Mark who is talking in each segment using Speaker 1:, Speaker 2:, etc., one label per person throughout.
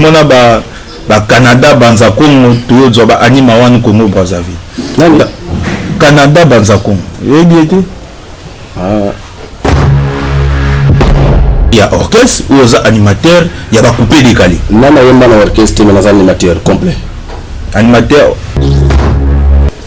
Speaker 1: tomona ba ba Canada banza Congo toyozwa ba anima wana Congo Brazzaville nani Canada banza Congo yebi ete ah. ya orchestre ou oza animateur ya ba coupe décalé nana yemba na orchestre
Speaker 2: mais naza animateur complet animateur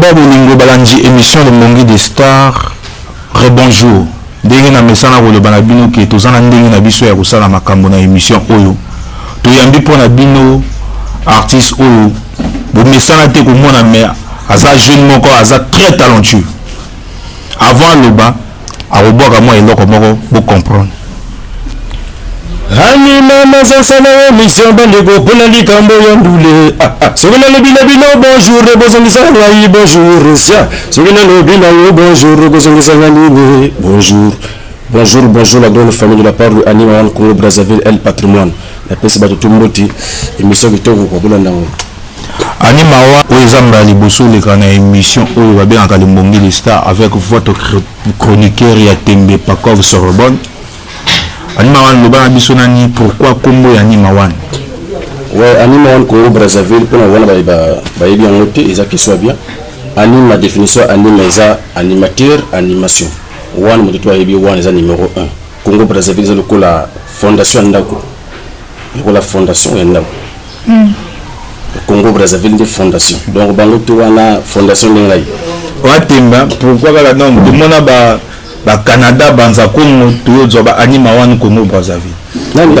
Speaker 3: ba bolingo balandi
Speaker 1: émission lomongi de star rebonjour ndenge na mesana koloba na bino ke toza na ndenge na biso ya kosala makambo na émission oyo toyambi mpo na bino artiste oyo bomesana te komona me aza jeune moko aza très talentueux avant aloba akobwaka mwa eloko moko bo comprendre
Speaker 2: anima nazasala yo mission bandeko mpo na likambo ya ndule ah, ah. soki nalobi na bino bonjour bozongisa ngai bonjour sia soki nalobi na yo bonjour kozongisa ngai nini bonjour bonjour bonjour la grande famille de la part de anima wan congo brazzaville el patrimoine napesi bato to mboti emission kitoko kwa bolanda yango Annie
Speaker 1: Mawa oyo eza mbala liboso oleka na emission oyo babengaka limbongi le star avec votre chroniqueur ya tembe pakov sorbonne Annie Mawa loba na biso nani pourquoi kombo ya Annie Mawa ouais
Speaker 2: Annie Mawa ko Brazzaville pona wana bayebi yango te eza question ya bien anime na définition anime eza animateur animation wana moto to ayebi wana eza numéro 1 congo brazzaville eza lokola fondation ya ndako lokola fondation ya ndako Congo Brazzaville nde fondation donc bango to wana fondation nde ngai watemba
Speaker 1: pourquoi kaka donc tomona ba ba Canada banza Congo tozwa ba anima wana Congo Brazzaville nani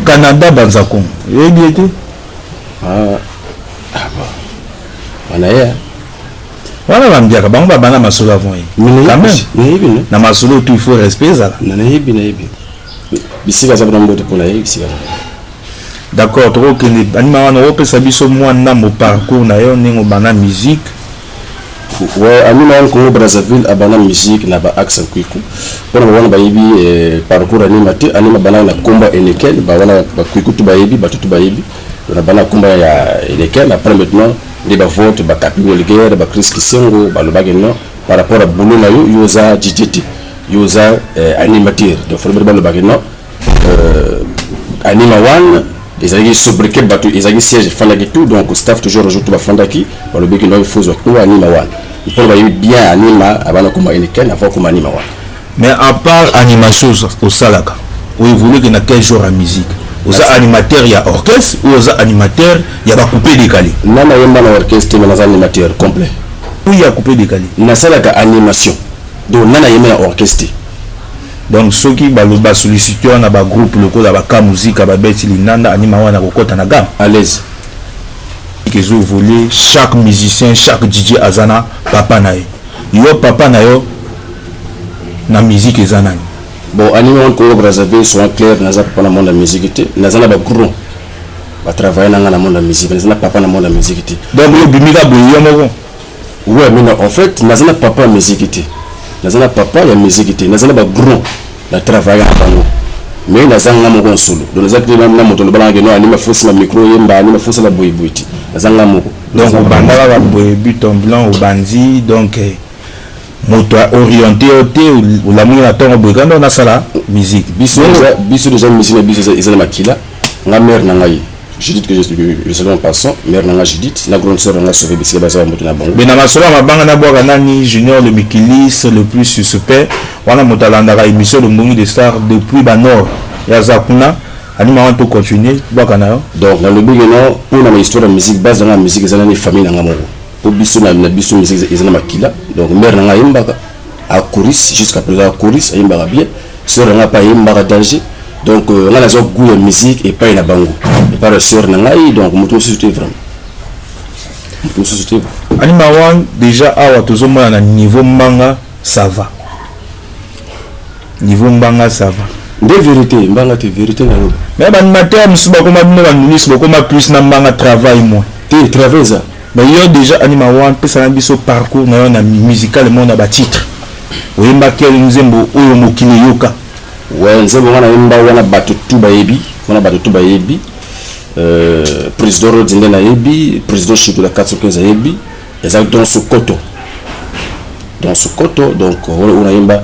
Speaker 2: Canada
Speaker 1: banza Congo yebi ete ah ah
Speaker 2: bon wana ye
Speaker 1: wana bambiaka bango babanda masolo avant ye quand même na masolo tout il faut respect ezala na nayebi nayebi
Speaker 2: bisika aza kuna mbote mpo na ye bisika d'accord
Speaker 1: tokokende banima wana opesa biso mwa ndambo parcours na yo ndenge obanda musique ouais,
Speaker 2: anima wana congo brazzaville abanda musique na baaxe ya kwiku mpona bawana bayebi eh, parcours anima te anima banaka na nkombo ya enekel bawana bakwiku tu bayebi bato tu bayebi na bana nkombo ya enekel après maintenant nde bavote bakapi welguerre bacris kisengo balobaki non par rapport à boulot na yo yo oza dj te yo oza euh, animateur donc folobele balobaki non euh, anima wana ezalaki sobriquet bato ezalaki siège efandaki tout donc staff toujours rejour tout bafandaki balobeki no efozwa kuna anima wana mpona bayebi bien anima abana koma enikene avant koma anima wana Mais à part
Speaker 1: animation osalaka, o évolue que na quel genre ya musique oza animateur ya orchestre ou oza animateur ya ba coupe décalé nga nayemba na
Speaker 2: orchestre te mais naza animateur complet oui ya coupe
Speaker 1: décalé nasalaka
Speaker 2: animation donc nga nayemba na orchestre te donc
Speaker 1: soki baloba sollicité wana bagroupe lokola baka muzika babeti linanda anima wana kokɔta na game à l'aise ezovolue chaque musicien chaque dj aza na papa na ye yo papa na yo na musique eza nani? Bon anime wana
Speaker 2: Congo Brazzaville soyons clair naza papa na monde ya musique te naza na ba gros ba travailler na nga na monde ya musique naza na papa na monde ya musique te donc yo bimi ka boye
Speaker 1: yo moko ouais mais
Speaker 2: en fait naza na papa ya musique te naza na papa ya musique te naza na ba gros na travailler na bango mais naza nga moko nsolo donc naza te na moto loba nanga ke no anime fosi na micro yemba anime fosi na boye boye te naza nga moko donc obandaka
Speaker 1: ka boye but en blanc obanzi donc eh, moto a oriente yo te olamuki na ntongo boye kanda nasala musique biso biso
Speaker 2: deja musique na biso eza na makila nga mare na ngai judith que je salue en passant mare na nga judith na grande sœur na nga sauve bisika baza bamoto na bango me na masolo ya mabanga nabwaka
Speaker 1: nani junior le mikilis le plus suspect wana moto alandaka émission lombongi de star depuis banord yaza kuna anima wana tocontinue bwaka na yo donc nalobi keno
Speaker 2: mpo na bahistoire ya musique base na nga ya musique eza nani famille na nga moko po biso na na biso musique eza na makila donc mère na ngai ayembaka akoris jusqu'à présent akoris ayembaka bien sœur na ngai mpe ayembaka danger donc euh, ngai nazwa goût ya musique epai na bango epai na sœur na ngai donc moto mosusu te vraiment moto mosusu te anima wan
Speaker 1: déjà awa tozomona na niveau mbanga ça va niveau mbanga ça va nde vérité
Speaker 2: mbanga te vérité na loba mais baanimateur mosusu
Speaker 1: bakoma bino baministre bakoma plus na mbanga travail moi te travail eza
Speaker 2: Mais yo dejà anima
Speaker 1: one pesa na biso parcours na yo na musicalement na ba titres oyemba quel nzembo oyo mokili eyoka.
Speaker 2: Ouais nzembo nga
Speaker 1: na
Speaker 2: yemba wana bato tout bayebi wana bato tout bayebi euh, président Rhodes nde nayebi président Shikula 415 ayebi ezali donc Sokoto donc Sokoto donc oyo nayemba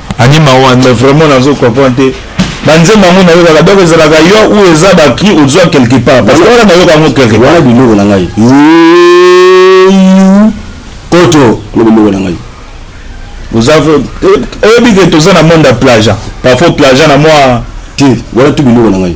Speaker 2: Ani
Speaker 1: mawa mais vraiment nazo comprendre te banzembo yango nayokaka donc ezalaka yo ou eza bacri ozwa quelque part parce que wana nayoka yango quelque part wana biloko na ngai
Speaker 2: poto kuna biloko na ngai oza
Speaker 1: oyebi ke toza na monde ya plaja parfois plaja na mwa te wana tu
Speaker 2: biloko na ngai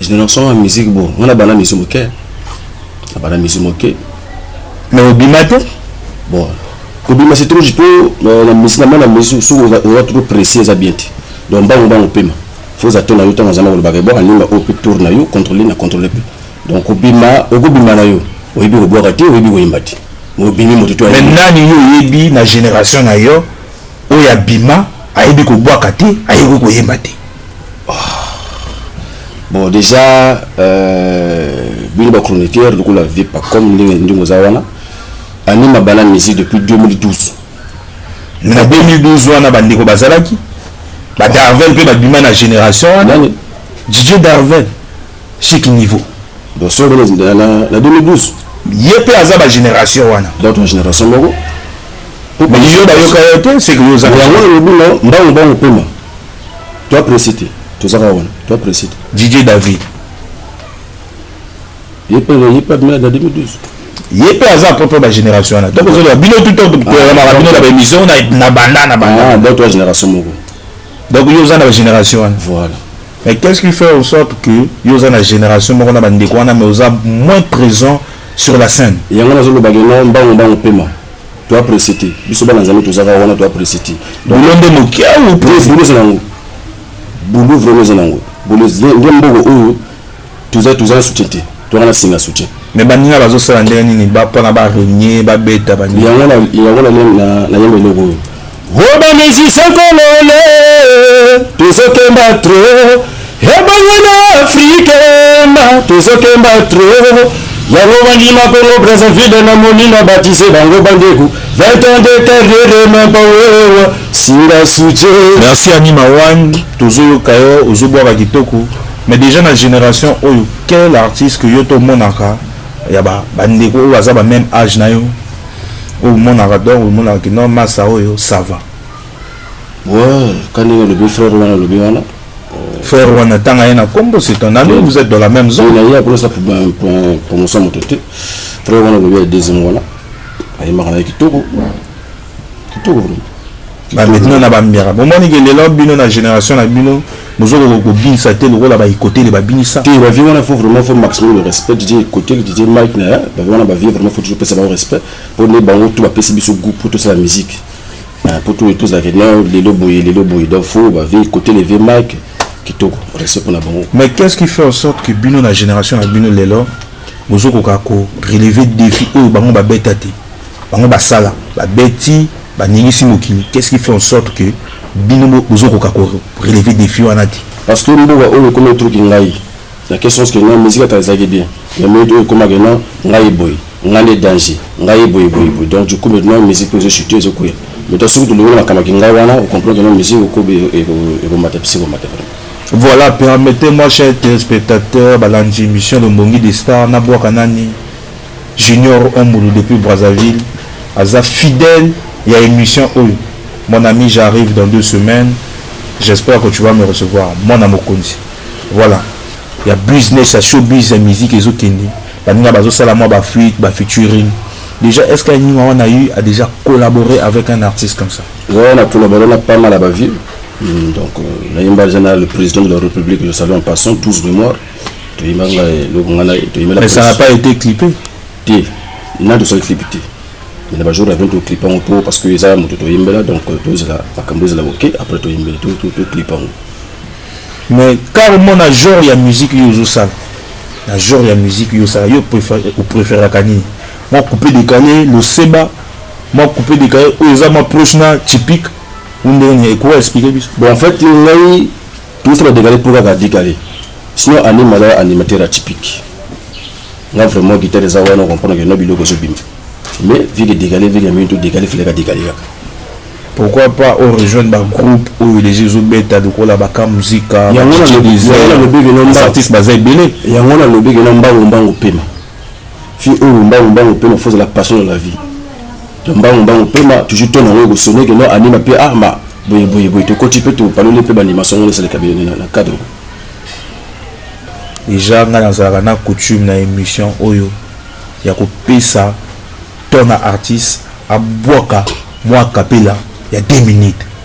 Speaker 2: Generation ya musique bo, on a bana musique moke. Na bana musique moke. Mais
Speaker 1: obima te? Bon.
Speaker 2: Kobima c'est trop jito euh, na musique na na musique sous on va trop préciser ça bien. Donc bango bango pema. Faut ça tourne yo tango zana ko ba bon, alinga au plus tourne yo contrôler na contrôler pe. Donc obima, okobima na yo. Oyebi ko boka te, oyebi ko imba te. Obimi moto to. Mais nani yo oyebi
Speaker 1: na génération na yo oyo abima ayebi ko boka te, ayebi ko yemba te.
Speaker 2: Bon, déjà, euh, bino ba chroniqueur lokola vipa comme ndenge ndenge oza wana anima bana musique depuis 2012
Speaker 1: na 2012 wana bandeko bazalaki ba darvel mpe babima na génération wana Nani? didie darvel chic niveau donc solo bana
Speaker 2: na, na, na 2012 ye mpe aza
Speaker 1: bagénération wana dans ton génération moko
Speaker 2: mais
Speaker 1: yo bayoka yo te seke yo ozaka yango nalobi no mbangu
Speaker 2: mbangu pema Toi pressé te. Toza kaka wana. Toi pressé te. Didier David. Ye pe ye pe abimela na 2012. Ye pe aza
Speaker 1: propre ba génération wana. Donc ozo bino tout temps ko ah, na bino na ba émission na na banda na banda. Ah, donc toi génération moko.
Speaker 2: Donc yo oza
Speaker 1: na ba génération wana. Voilà. Mais
Speaker 2: qu'est-ce qui
Speaker 1: fait en sorte que yo oza na génération moko na ba ndeko wana mais oza moins présent sur la scène. Yango nazo loba que non
Speaker 2: mbango mbango pema. To apprécier te. Biso bana Nzambe tozaka wana to apprécier te. Boulot nde moke
Speaker 1: ah ou plus boulot eza nango.
Speaker 2: Boulot vraiment eza nango. Boulot nde mboko oyo toza toza na soutien te. Toza na singa soutien. Mais baninga bazosala
Speaker 1: ndenge nini ba pona ba régner ba beta baninga. Yango na
Speaker 2: yango na na yembe loko oyo. Ho ba
Speaker 1: musiciens congolais tozo kemba trop ebongo na Afrique ma tozo kemba trop yango bandima Congo Brazzaville na moni na baptise bango bandeku 20 ans de carrière ma bawewa singa suce Merci Annie Mawan, tozo yoka yo, ozo bwaka kitoko. Mais déjà na generation oyo, quel artiste que yo to monaka ya ba ba ndeko oyo baza ba meme age na yo? oyo monaka donc omonaka ke non masa oyo sava
Speaker 2: ouais ka ndenge alobi frère wana alobi wana euh, frère
Speaker 1: wana tanga ye na kombo c'est ton ami vous êtes dans la même zone naye akolesa
Speaker 2: promotion moto te frère wana alobi ya deuxième wana ayembaka na ye kitoko
Speaker 1: kitoko vraiment ba maintenant na bambiaka bomoni ke lelo bino na génération na bino Bozokoka kobinisa te lokola ba ikotele babinisa. Te ba vieux wana faut vraiment
Speaker 2: faut maximum de respect Didier Ikotele Didier Mike na ba vieux wana ba vieux vraiment faut toujours pesa bango respect po nde bango tout ba pesi biso goût pour tosala musique ah, po tout tous la non lelo boye lelo boye donc faut ba vieux Ikotele vieux Mike kitoko respect pona bango. Mais qu'est-ce qui fait en
Speaker 1: sorte que bino na génération ya bino lelo bozokoka ko relever défi oyo bango babeta te bango basala babeti Ba ningisi mokili qu'est ce qui fait en sorte que bino bozo koka ko relever defi wana te? Parce que mboka
Speaker 2: oyo ekomi truc ngai na quel sens que non musique kala ezalaki bien mais minute oyo ekoma que non ngai boye ngai nde danger ngai boye boye boye donc du coup maintenant musique ezo chuter ezo kuya mais toi soki tolongoli makambo ki ngai wana o comprendre que non musique okobi ekomata pisi ekomata vraiment Voilà,
Speaker 1: permettez-moi, chers téléspectateurs, balandi émission de Mbongi des Stars, Nabouaka Nani, Junior Ombulu depuis Brazzaville aza fidèle ya emission oyo mon ami j'arrive dans deux semaines j'espère que tu vas me recevoir mwana mokonzi voilà ya business ya showbiz ya musique ezo kende baninga bazo sala mwa ba fuite ba featuring déjà est-ce que Nima wana a eu a déjà collaboré avec un artiste comme ça ouais on a collaboré on a
Speaker 2: pas mal à ba vie hmm, donc euh, nayemba déjà na le président de la république le salut en passant tous mémoires toyemba nga eloko nga na
Speaker 1: toyemela mais ça n'a pas été clippé te
Speaker 2: na dosali clip te mais na bajour avion toclipe yango mpo parce que eza ya moto toyembela donc euh, tozela makambo ezala oke après toyembela toclipe yango
Speaker 1: mais car omona genre ya musique yo ozosala na genre ya musique yo osala yo opréféraka nini mwa coupe décalé loseba mwa coupe décalé oyo eza mwa proche na typique ou ndenge nini ekowa explike biso bon en fait ngai
Speaker 2: Tout ça ba degale pour kaka dikale. Sinon anima aza animateur atypique. Nga vraiment guitare eza wana comprendre que no biloko zo bima. Mais vie que degale vie que mintu degale file ka degale kaka. Pourquoi
Speaker 1: pas au rejoindre ba groupe oyo les jeux beta lokola ba ka musica. Yango na lobi
Speaker 2: que no mbango.
Speaker 1: Artiste baza ebele. Yango na lobi que no
Speaker 2: mbango mbango pema. fille oyo mbangu mbangu pema faut la passion de la vie donc mbangu mbangu pema toujours tona yango ekosone ke no anima mpe ah ma boye boye boye tokoti mpe topaloli mpe banimation yango esaleka bino na cadre
Speaker 1: deja ngai nazalaka na coutume na émission oyo ya kopesa tona artiste abwaka mwa kapela ya 2 minutes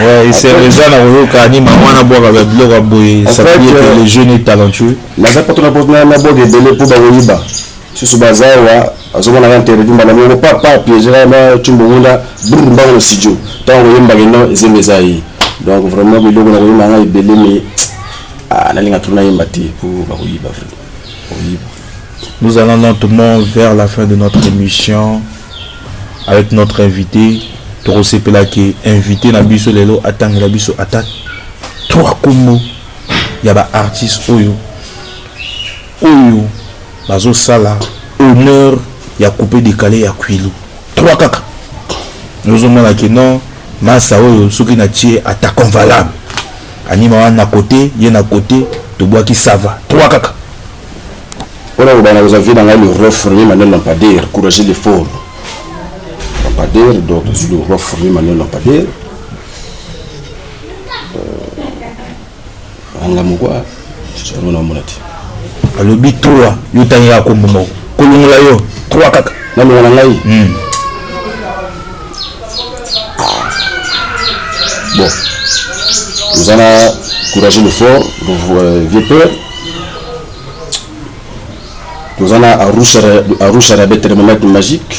Speaker 2: Ouais, il
Speaker 1: s'est réveillé na koyoka ni maman na bwaka ba biloko ya boye ça veut dire que le jeune est talentueux naza pato na bwaka
Speaker 2: na bwaka ebele mpo bakoyiba susu baza awa azomona ka interview mbala moko papa piégera na tumbo ngunda brr mbango na studio ntango koyembaka eno ezemba eza ye donc vraiment biloko na koyemba ngai ebele me nalinga tuna yemba te mpo bakoyiba vraimen bakoyiba Nous
Speaker 1: allons lentement vers la fin de notre émission avec notre invité. tokosepela ke invité na biso lelo atangela biso ata trois kombo ya baartiste oyo oyo bazosala honneur ya coupe décalé ya kwilu trois kaka ozomona ke non masa oyo soki natie attaque valable anima wana na kote ye na kote tobwaki sava trois kaka
Speaker 2: Wana ko bana kozwa vie na ngai le roi fourmi Manuel Lampadaire courage de fort Lampadaire donc je suis le roi fourmi Manuel Lampadaire euh, anga mokwa sikoyo na mona te alobi 3
Speaker 1: yo tangela kombo moko kolongola yo 3 kaka na longo na ngai hmm.
Speaker 2: bon oza na courage le fort euh, vieux père toza na arusha na bete rememete magique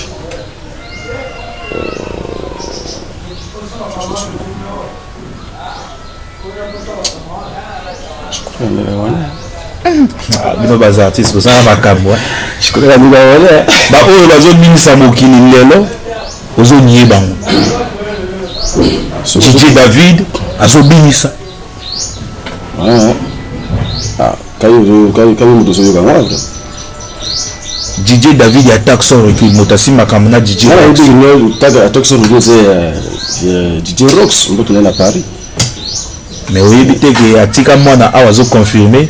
Speaker 1: ah, bino baza artiste bozala makambo eh. baoyo bazobimisa mokili lelo ozonie bango jiji david azobimisa Ah,
Speaker 2: ah, kayo moto ozoyoka nga vrai didier
Speaker 1: david ya taxon recul moto asimba kambo na didier
Speaker 2: taxon recul eza ya didier rox mboto na na paris
Speaker 1: mais oyebi te ke atika mwana awa azoconfirme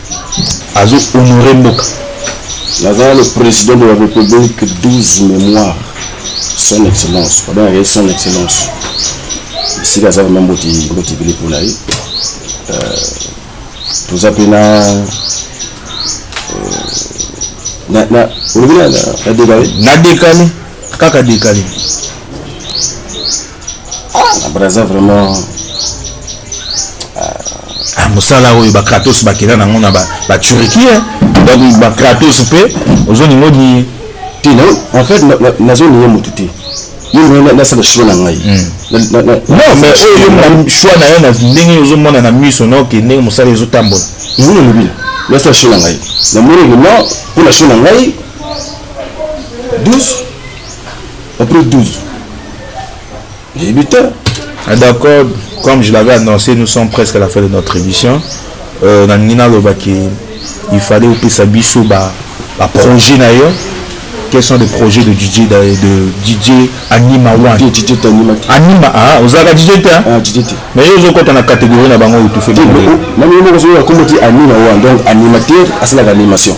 Speaker 1: azo honore mboka. Naza
Speaker 2: le president de la republique 12 memoire son excellence babengaka ye son excellence esika aza vraimen mboti mboti ebele mpo na ye euh, toza mpe na
Speaker 1: euh, olobi na dekale na dekale kaka dekale
Speaker 2: braza vraiment
Speaker 1: ah, mosala oyo bakratos bakela nango na baturiki eh. donc bakratos mpe ozolinga odiye te
Speaker 2: en fait nazolinga motu te nasala choix na ngai non
Speaker 1: mais oyo choix na yo na ndenge ozomona na miso na oke ndenge mosala ezotambola yango nalobi
Speaker 2: nasala choix na ngai namoni lelo mpo na choix na ngai 12 Après 12. Nayebi te. Ah, d'accord,
Speaker 1: comme je l'avais annoncé, nous sommes presque à la fin de notre émission. Euh, nalingi naloba ke il fallait opesa biso ba ba projet na yo quels sont les projets de DJ de, de DJ Anima One DJ, DJ Anima Anima ah ozalaka DJ te hein? ah DJ te mais yo ozokota na catégorie na bango oyo tu fais na mimi moko soki akomaki
Speaker 2: Anima One donc animateur asalaka animation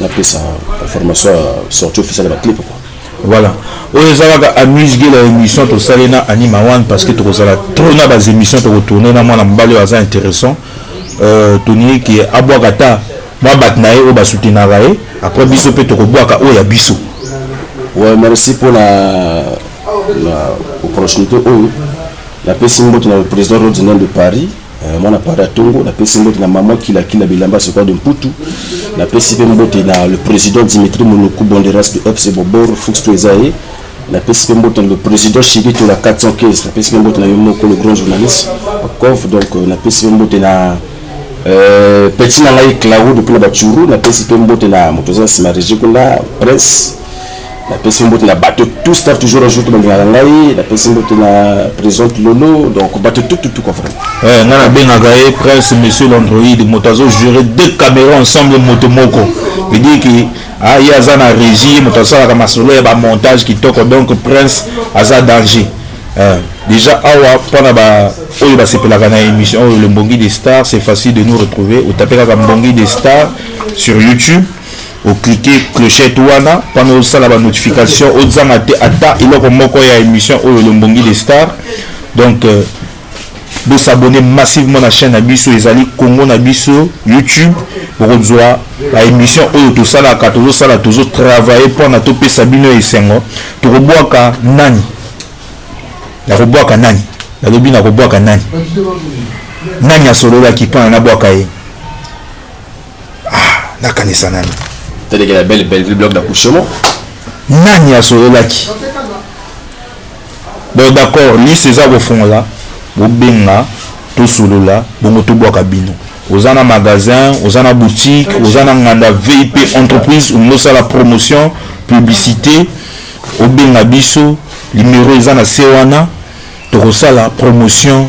Speaker 2: Na pesa formation ya sortie officielle ba clip quoi. Voilà.
Speaker 1: Oyo ezalaka amuse gela émission to sale na Anima One parce que toko sala trop na bas émissions toko tourner na mwana mbali aza intéressant. Euh Tony qui abwa kata ba bat na ye o ba soutenir ye après biso pe toko bwa ka o ya biso. Ouais,
Speaker 2: merci pour la la opportunité oyo. La pesi mbote na président Rodinel de Paris. Eh, mwana pari ya tongo napesi mbote na mama kilakila bilamba sekoa de mputu napesi mpe mbote na le président dimitri monoku bonderas mpe fc bobor fux to eza ye napesi mpe mbote na le président shirito na 415 napesi mpe mbote na yo moko le grand journaliste akov donc euh, napesi mpe mbote na euh, peti na ngai claro depuis na bachuru napesi mpe mbote na moto aza na nsima regi kuna prince napesi mbote na bato tout staff toujours ajoute balingaka ngai napesi mbote na présente lolo donc bato tututuka vraiment eh, ngai nabengaka ye
Speaker 1: prince monsieur l'android moto azojure deux caméra ensemble moto moko vedire ke ah, ye aza na régie moto asalaka masolo ya bamontage kitoko donc prince aza danger eh, déjà awa mpo na ba oyo basepelaka na émission oyo le mbongi de star c'est facile de nous retrouver otape kaka mbongi de star sur youtube o cliquer clochette wana mpona osala ba notification ozanga te ata eloko moko ya émission oyo le mbongi de star donc euh, bo s'abonner massivement na chaîne na biso ezali congo na biso youtube bokozwa ba émission oyo tosalaka tozosala tozo travailler mpona topesa bino esengo tokobwaka nani nakobwaka nani nalobi nakobwaka nani nani asololaki mpona nabwaka ye ah nakanisa nani tadeke la belle
Speaker 2: belleville bloc d'accouchement
Speaker 1: nani asololaki bon d'accord liste eza kofungola bobenga tosolola bongo tobwaka bino oza na magasin oza na boutique oza na nganda vip entreprise olingi osala promotion publicité obenga biso limero eza na se wana tokosala promotion